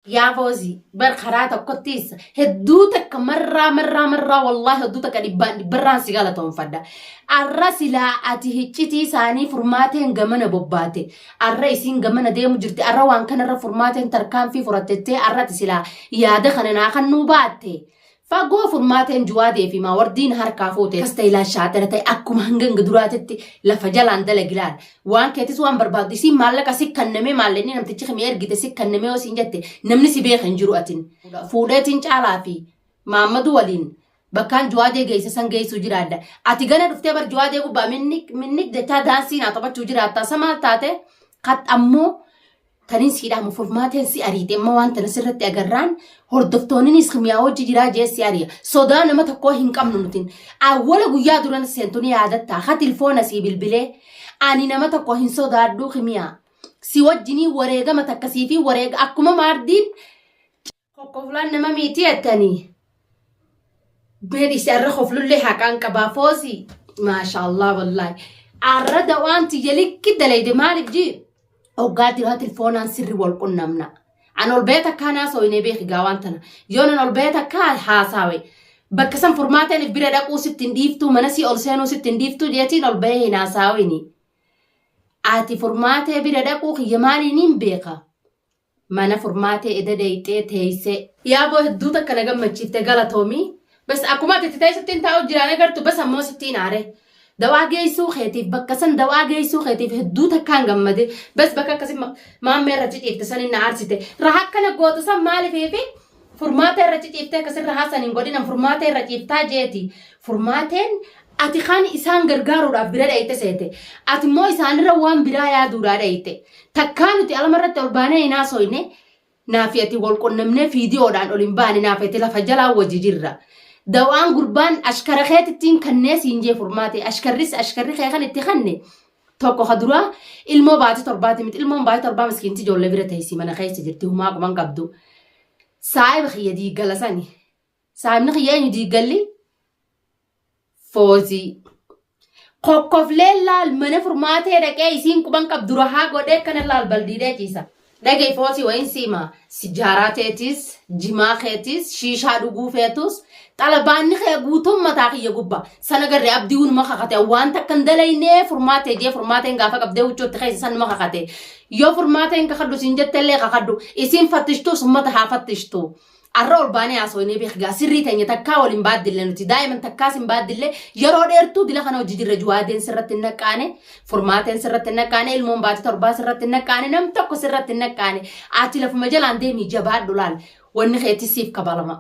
Yaa foozii bar karaa tokkottiis hedduu takka marraa marraa marraa wallaahi hedduu takka dhibbaan dhibbarraan si galatoonfadha. Arra silaa ati hiccitii isaanii furmaateen gamana bobbaate. Arra isiin gamana deemu jirti. Arra waan kanarra furmaateen tarkaanfii furatettee arra ati silaa yaada kana naa kan nuu baatte. Fagoo furmaateen Juwaadee fi Maawardiin harkaa fuute kas ta'e laal shaadara ta'e akkuma hangan duraatitti lafa jalaan dalagi laal. Waan keetis waan barbaaddu isiin maallaqa si kannamee maallaqni namtichi kimi ergite si kannamee yoo siin jette namni si beeka hin jiru atin. Fuudheetiin caalaa fi maammadu waliin bakkaan Juwaadee geesse san geessuu jiraadha. Ati gana dhuftee bar Juwaadee gubbaa minnik minnik jechaa daansii naa taphachuu jiraattaa sa maal taate kat ammoo Tanin sii dhaamu furmaateen si ariite amma waan tana sirratti agarraan hordoftoonninis kimiyaa hojii jiraa jee si ariya sodaa nama tokkoo hin qabnu nutin awwala guyyaa duran seentuni yaadattaa ha tilfoona sii bilbilee ani nama tokko hin sodaadhuu kimiyaa si wajjinii wareegama takkasii fi wareega akkuma maardiin Kokkoflaan nama miiti jettanii. Beedhisi arra koflullee haqaan qabaa foosii. Maashaallah wallaahi. Arra dawaan tiyya likki dalayde maaliif jii? Oggaa diraa tilfoonaan sirri wal qunnamna. An ol beeta kaanaa sooyinee beeki gaawaan tana. Yoon an ol beeta kaa haasaawe. Bakka san furmaateen if bira dhaquu sitti hin dhiiftuu mana sii ol seenuu sitti hin dhiiftuu jeetiin ol bahee hin haasaawini. Ati furmaatee bira dhaquu kiyya maaliin hin beeka? Mana furmaatee eda deeyxee teeyse. Yaa boo hedduu takka na gammachiifte galatoomi bas akkuma ati itti teessuttiin taa'u jiraan agartu bas ammoo sittiin aare dawaa geessuu keetiif bakka san dawaa geessuu keetiif hedduu takkaan gammade bas bakka akkasi maammee irratti ciifte sanin na aarsite raha akkana gootu san maalifiifi Furmaata irra ciciiftee akka sirra haasan hin godhinan furmaata irra ciiftaa jeeti. Furmaateen ati kan isaan gargaaruudhaaf bira dhayite seete. Ati immoo isaanirra waan biraa yaaduudhaa dhayite. Takkaa nuti alama irratti ol baanee hin haasoyne naafi ati wal qunnamnee fiidiyoodhaan ol hin baane naafi ati lafa jalaa wajji jirra. Dawaan gurbaan ashkara keetittiin kannee siin jee furmaatee ashkarris ashkarri kee kan itti kanne tokko ka duraa ilmoo baatii torbaati miti ilmoon baatii torbaa miskiinti ijoollee bira teessi mana keessa jirti humaa quban qabdu saahiba kiyya diiggala sani saahibni kiyya eenyu diiggalli foozii kokkoflee laal mana furmaatee dhaqee isiin quban qabdu rahaa godhee kana laal baldiidee ciisa Dhaga'i footii wayiin si hima. Sijaaraa teetis, jimaa keetis, shiishaa dhuguu feetus, xalabaanni kee guutuun mataa kiyya gubba. Sana garre abdii unuma kakate. Wanta akka hin dalaynee furmaatee jee furmaateen gaafa qabdee huccootti keessa sanuma kakate. Yoo furmaateen kakadhu siin jettellee kakadhu. Isiin fattishtuus ummata haa fattishtu. Arra ol baanee haasoynee beeki gaa sirrii teenya takkaa waliin baaddille nuti daa'iman takkaas hin baaddille yeroo dheertuu dila kana hojii jirra juwaadeen sirratti hin naqqaane furmaateen sirratti hin naqqaane ilmoon baati torbaa sirratti hin naqqaane nam tokko sirratti hin naqqaane ati lafuma jalaan deemii jabaadhu laal wanni keetis siif kabalama.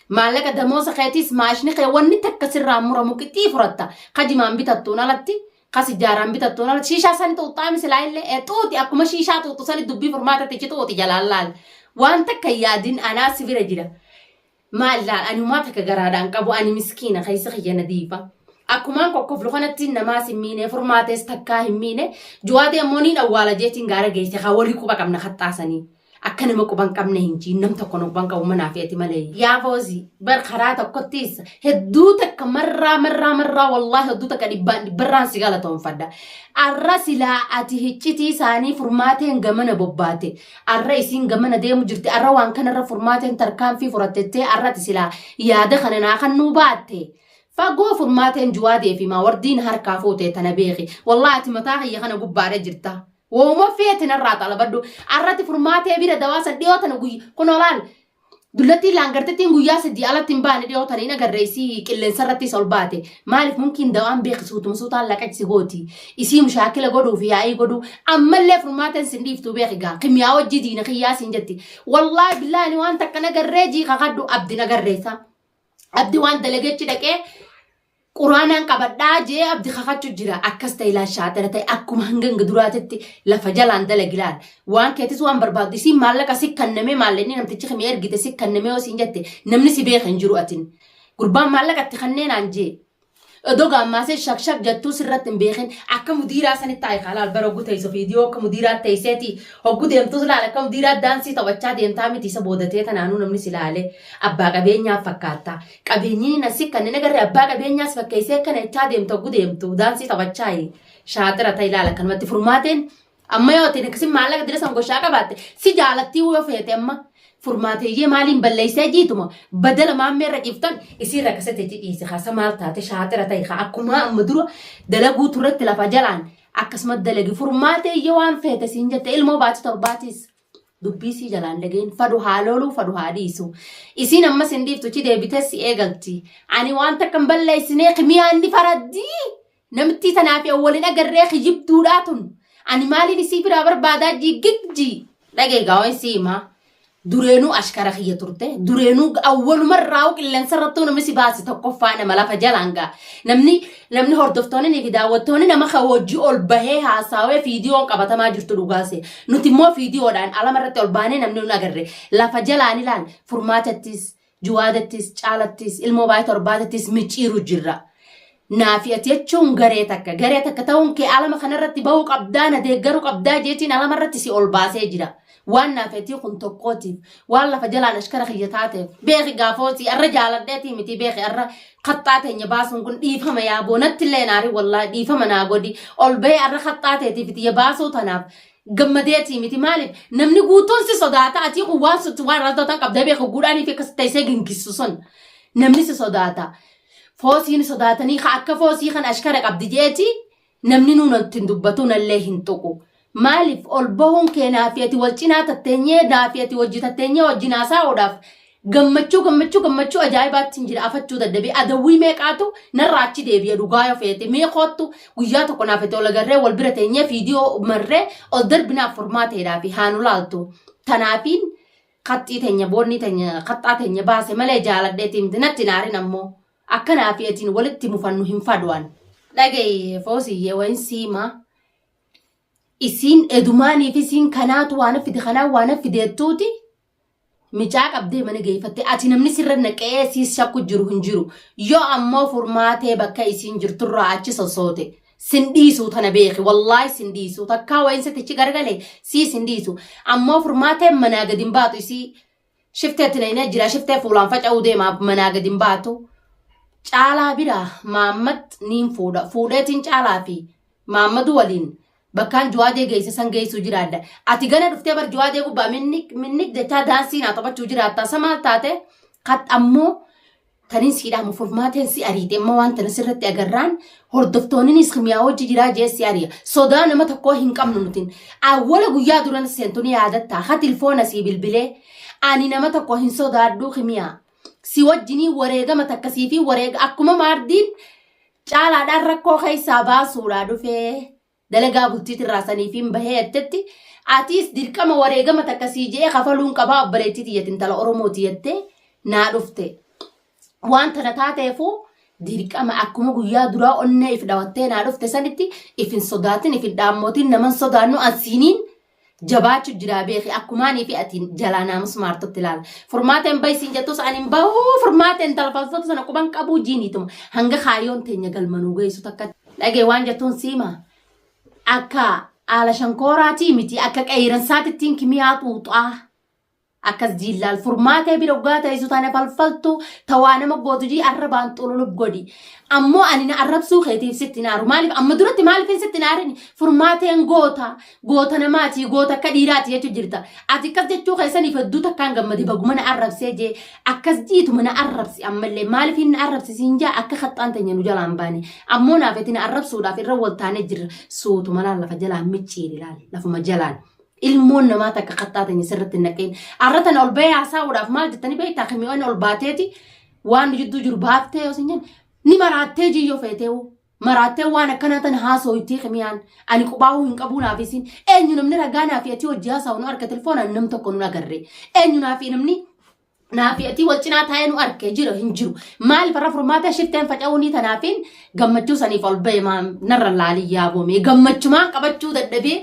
Maallaqa damoosa keetis maashni kee wanni takka sirraa muramu qixii furatta kajimaan bitattuun alatti ka sijjaaraan bitattuun ala shiishaa sani xuuxxaami silaa illee ee xuuxi akkuma shiishaa xuuxxu sani dubbii furmaata tichi xuuxi jalaan laal waan takka hin yaadin anaa si bira jira maal laal ani umaa takka garaadhaan qabu ani miskiina keessa kiyya na diifa akkumaan kokkoflu kanatti namaas hin miine furmaatees takkaa hin miine juwaadee ammoo niin awwaala jeetiin gaara geesse haa walii quba qabna kaxxaasanii. Akka nama quba hin qabne hin jiin nam tokko na quba hin qabu manaa fi ati malee. Yaa foozi bar karaa tokkottis hedduu takka marraa marraa marraa wallaahi hedduu takka dhibbaan dhibbarraan si galatoonfadha. Arra silaa ati hiccitii isaanii furmaateen gamana bobbaate. Arra isiin gamana deemu jirti. Arra waan kanarra furmaateen tarkaanfii furatettee arra ati silaa yaada kana naa kan nuu baatte. Fagoo furmaateen juwaadee fi maawardiin harkaa fuutee tana beeki. Wallaahi ati mataa kiyya kana gubbaadha jirta. Wooma feeti narraa xalabadhu. Arratti furmaatee bira dawaa san dhiyoo tana guyya kun olaan dullattiin laangartittiin guyyaa sadii alatti hin baane dhiyoo tana hin agarreessii qilleensa irrattis ol baate maaliif mumkiin dawaan beeki suutuma suutaan laqachisi gooti isii mushaakila godhuu fi yaa'ii godhuu ammallee furmaateen sin dhiiftuu beeki gaa kimiyaa wajjii diina kiyyaa siin jetti wallaahi billaani waan takka nagarree jii kakadhu abdi nagarreessa abdi waan dalageechi dhaqee Quraanaan qabadhaa jee abdi kakachu jira akkas ta'e ilaal shaaxira ta'e akkuma hanganga duraatitti lafa jalaan dalagi ilaal waan keetis waan barbaaddu isiin maallaqa si kannamee maallaqni namtichi kimi ergite si kannamee yoo siin jette namni si beeka hin jiru atin gurbaan maallaqa itti kanneenaan jee Odoo gaammaasee shak shak jettuu sirratti hin beekin akka mudiiraa sanitti taa'e kaa laal bara oguu teessu viidiyoo akka mudiiraa teesseeti hogguu deemtus laal akka mudiiraa daansii taphachaa deemtaa miti isa boodatee tanaanuu namni si laale abbaa qabeenyaa fakkaattaa Qabeenyii nassi kan inni garri abbaa qabeenyaas fakkeessee akkana jechaa deemtu oggu deemtu daansii taphachaa shaatira ta'e ilaala akkanumatti furmaateen amma yoo ta'e akkasii maallaqa dira san goshaa qabaatte si jaalattii yoo feete amma furmaateeyyee maaliin balleessee jiituma badala maammee irra ciiftan isii irra kasate jidhiise haasa maal taate shaatira ta'e haa akkumaa amma dura dalaguu turretti lafa jalaan akkasuma dalagi furmaateeyyee waan feete siin jette ilmoo baatu torbaatiis dubbii sii jalaan dhageen fadu haa looluu fadu haa dhiisu isiin ammas hin dhiiftu chi deebitee si eegalti ani waan takka hin balleessinee kimiyaan ni faraddii namittii tanaa fi awwalin agarree kijibduudhaa tun ani maaliin isii biraa barbaadaa jiggigji dhageegaa waan sii himaa dureenuu ashkara kiyya turte dureenuu awwalumarraa qilleensa irrattuu namni si baase tokkoffaa nama lafa jalaan gaa namni Namni hordoftoonni fi daawwattoonni nama kan hojii ol bahee haasaawee fiidiyoon qabatamaa jirtu dhugaase. Nuti immoo fiidiyoodhaan alama irratti ol baanee namni nun agarre. Lafa jalaan ilaal furmaatattis, juwaadattis, caalattis, ilmoo baay'ee torbaatattis micciiru jirra. Naafi ati jechuun garee takka. Garee takka ta'uun kee alama kanarratti bahuu qabdaa na deeggaruu qabdaa jeetiin alama irratti si ol baasee jira. Waan naa feetii kun tokkootiif, waan lafa jalaan ashkara kiyya taateef, beeki gaa foosii, arra jaaladheetii mitii beeki arra kaxxaa teenya baasuun kun dhiifama yaa boo, natti illee hin aarin wallaahi dhiifama naa godhi, ol bahee arra kaxxaa teetiif tiyya baasuu tanaaf gammadeetii miti maaliif namni guutuun si sodaata atii kun waan sutti waan irraa sodaatan qabda beeki guudhaanii fi akkas ta'isee gingissu sun namni si sodaata foosiin sodaatanii ka akka foosii kan ashkara qabdi jeetii Namninuu natti hin dubbatu nallee hin tuqu. Maaliif ol bahuun kee naa fi ati wal cinaa tatteenyee naa fi ati wajji tatteenyee wajjin haasaa'uudhaaf gammachuu gammachuu gammachuu ajaa'ibaattin jira afachuu dadhabee adawwii meeqaatu narraa achi deebi'a dhugaa yoo feete mee koottu guyyaa tokko naa fi ati ol agarree wal bira teenyee fiidiyoo marree ol darbinaaf furmaateedhaa fi haa nu laaltu tanaafiin kaxxii teenya boonnii teenya kaxxaa teenya baase malee jaaladheetii miti natti hin aarin ammoo Akka naa fi atiin walitti mufannu hin faduan. Dhagayi foosiyyee wayin siimaa. Isiin edumaanii fi isiin kanaatu waana fide kanaa waana fideettuuti. Micaa qabdee mana geeffatte ati namni sirra naqee siis shakku jiru hin jiru. Yoo ammoo furmaatee bakka isiin jirturraa achi sossoote. Sin dhiisuu tana beeki wallaahi sin dhiisuu takkaa wayin sitichi gargale siis hin dhiisu. Ammoo furmaatee manaa gadi hin baatu isii Shifteetti na inee jira shiftee fuulaan faca'uu deemaa manaa gadi hin baatu. Caalaa biraa Maammad niin fuudha. Fuudheetiin caalaa fi Maammadu waliin bakkaan Juwaadee geesse san geessuu jiraadha. Ati gana dhuftee bar Juwaadee gubbaa minnik minnik jechaa daansii naa taphachuu jiraattaa. Sa maal taate? Kat ammoo Tanin sii dhaamu furmaateen si ariite amma waan tana sirratti agarraan hordoftoonninis kimiyaa hojii jiraa jee si ariya sodaa nama tokkoo hin qabnu nutin awwala guyyaa duran seentu ni yaadatta ha tilfoona sii bilbilee ani nama tokko hin sodaadhuu kimiyaa si wajjinii wareegama takkasii fi wareega akkuma maardiin caalaadhaan rakkoo keessaa baasuudhaa dhufee dalagaa bultiit irraa saniifiin bahee jettetti atiis dirqama wareegama takka sii je'ee kafaluun qabaa obboleettii tiyyati intala oromooti jettee naa dhufte waan tana taateefuu dirqama akkuma guyyaa duraa onnee if dhawattee naa dhufte sanitti if hin sodaatin if hin dhaammootin naman sodaannu ansiiniin jabaachu jiraa beeki akkumaanii fi atiin jalaa naamus maartutti laala. Furmaateen bahi siin jettus ani hin bahu furmaateen talfalsatu sana quban qabuu jiiniituma hanga kaayoon teenya galmanuu geessu takka dhagee waan jettuun siima akka haala shankooraatii miti akka qeeyiransaatittiin kimiyaa xuuxaa Akkas jiin laal furmaatee bira oggaa ta'isu tana falfaltu tawaa nama gootu jii arrabaan xululub godhi. Ammoo ani na arrabsuu keetiif sitti naaru. Maaliif amma duratti maaliifin sitti naarin furmaateen goota goota namaati goota akka dhiiraati jechuu jirta. Ati akkas jechuu keessaniif hedduu takkaan gammade baguma na arrabsee jee akkas jiituma na arrabsi ammallee maaliifin na arrabsi siin jaa akka kaxxaan teenya nu jalaan baane. Ammoo naafeti na arrabsuudhaaf irra wal taanee jirra. Suutuma laal lafa jalaan micciiri laal lafuma jalaan. ilmoon namaa takka kattaa tanya sirratti hin naqin. Arra tana ol bahee haasa'uudhaaf maal jettanii beektaa kimiyoonni ol baateeti waan jidduu jiru baaftee yoo sinjin ni maraattee jiyyoo feeteewu. Maraattee waan akkanaa tana haasooytii kimiyaan ani qubaa'uu hin qabuu naaf isin eenyu namni ragaa naaf atii hojii haasa'u nu harka telefoonaan nam tokko nu agarre eenyu naaf namni Naafi atii wal cinaa taa'ee nu arge jira hin jiru. Maaliif irra furmaata shifteen faca'uunii tanaafiin gammachuu saniif ol ba'e maa narra laalii yaaboomee gammachumaan qabachuu dadhabee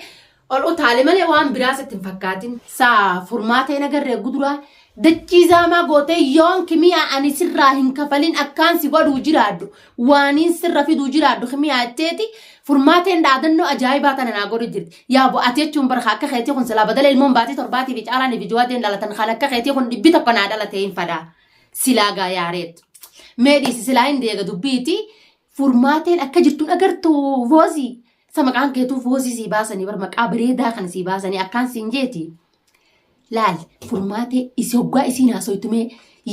ol utaale malee waan biraas itti hin fakkaatin. Saa furmaata hin agarre guduraa dachii zaamaa gootee yoon kimiyaa ani sirraa hin kafalin akkaan si godhuu jiraadhu. waaniin sirra fiduu jiraadhu kimiyaa jetteeti furmaateen dhaadannoo ajaa'ibaa tana naa godhu jirti. Yaa bu ati jechuun barka akka keetii kun silaa badala ilmoon baatii torbaatii fi caalaanii fi jawaadeen dhalatan kan akka keetii kun dhibbi tokko naa dhalatee hin fadaa. Silaa gaa yaareet. Mee dhiisi silaa hin deega dubbiiti furmaateen akka jirtuun agartu voozii. Sa maqaan keetuu voozii sii baasanii bar maqaa bareedaa kana sii baasanii akkaan siin jeeti. Laal furmaatee isi hoggaa isiin haasoytu mee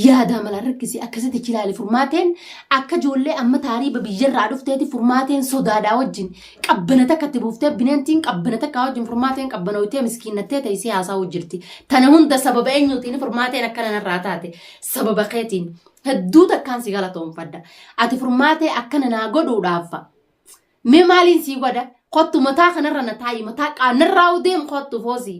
yaadaa malaan rakkisi akkasitti achi laali furmaateen akka ijoollee amma taariiba biyyarraa dhufteeti furmaateen sodaadhaa wajjin qabbana takka itti buuftee bineentiin qabbana takkaa wajjin furmaateen qabbanooytee miskiinnattee teessee haasa'uu jirti. Tana hunda sababa eenyuutiin furmaateen akka nanarraa taate sababa keetiin hedduu takkaan si galatoomfadha. Ati furmaatee akka nanaa godhuudhaaf mee maaliin sii godha kottu mataa kanarra na taa'i mataa qaanarraa deem kottu foosii.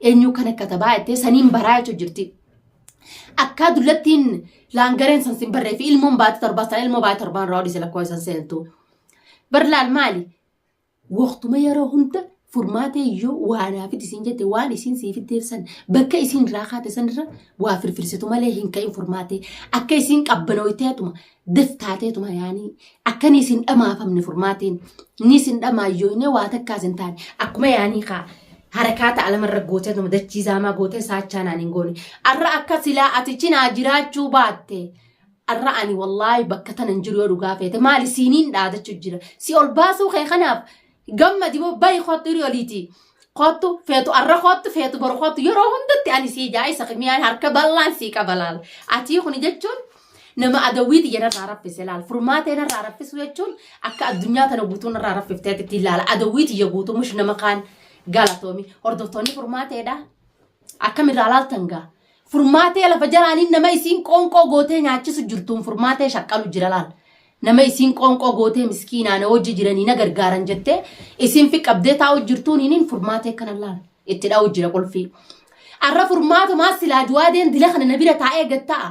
Eenyuu kan akka tabaa jettee saniin baraa jechuu jirti. Akkaa dullattiin laangareen san sin barree fi ilmoon baate torbaa sana ilmoo baate torbaan irraa odise lakkoo isan seentu. Barlaal maali? Waqtuma yeroo hunda furmaatee yoo waa naafiti isin jette waan isin siif deebsan bakka isin irraa kaate sanirra waa firfirsitu malee hin ka'in furmaatee akka isin qabbanooyteetuma def taateetuma yaanii akka ni isin dhamaafamne furmaatiin ni isin dhamaayyooyne waa takkaa isin taane akkuma yaanii kaa harakaata alamarra gooteetuma dachii zaamaa gootee saachaa naan hin goone arra akka silaa ati cinaa jiraachuu baatte arra ani wallaahi bakka tana hin jiru yoo dhugaa feete maali siiniin dhaadachu jira si ol baasuu kee kanaaf gammadi moo bayi koottu hiri oliiti koottu feetu arra koottu feetu boru koottu yeroo hundatti ani sii jaa isa miyaan harka bal'aan sii qaba laal atii kuni jechuun nama adawwiiti jenarraa raffise laal furmaatee narraa raffisu jechuun akka addunyaa tana guutuu narraa raffifteet ittiin laala adawwiiti ya guutuu mush nama kaan galatoomi hordoftoonni furmaateedha akkamirraa laaltan gaa furmaatee lafa jalaaniin nama isiin qoonqoo gootee nyaachisu jirtuun furmaatee shaqqalu jira laal Nama isiin qoonqoo gootee miskiinaa na wajji jiranii na gargaaran jettee isiin fi qabdee taa'u jirtuun hiniin furmaatee kana laal itti dha'u jira qulfii. Arra furmaatumaa silaa juwaadeen dila kana na bira taa'ee gatta'a.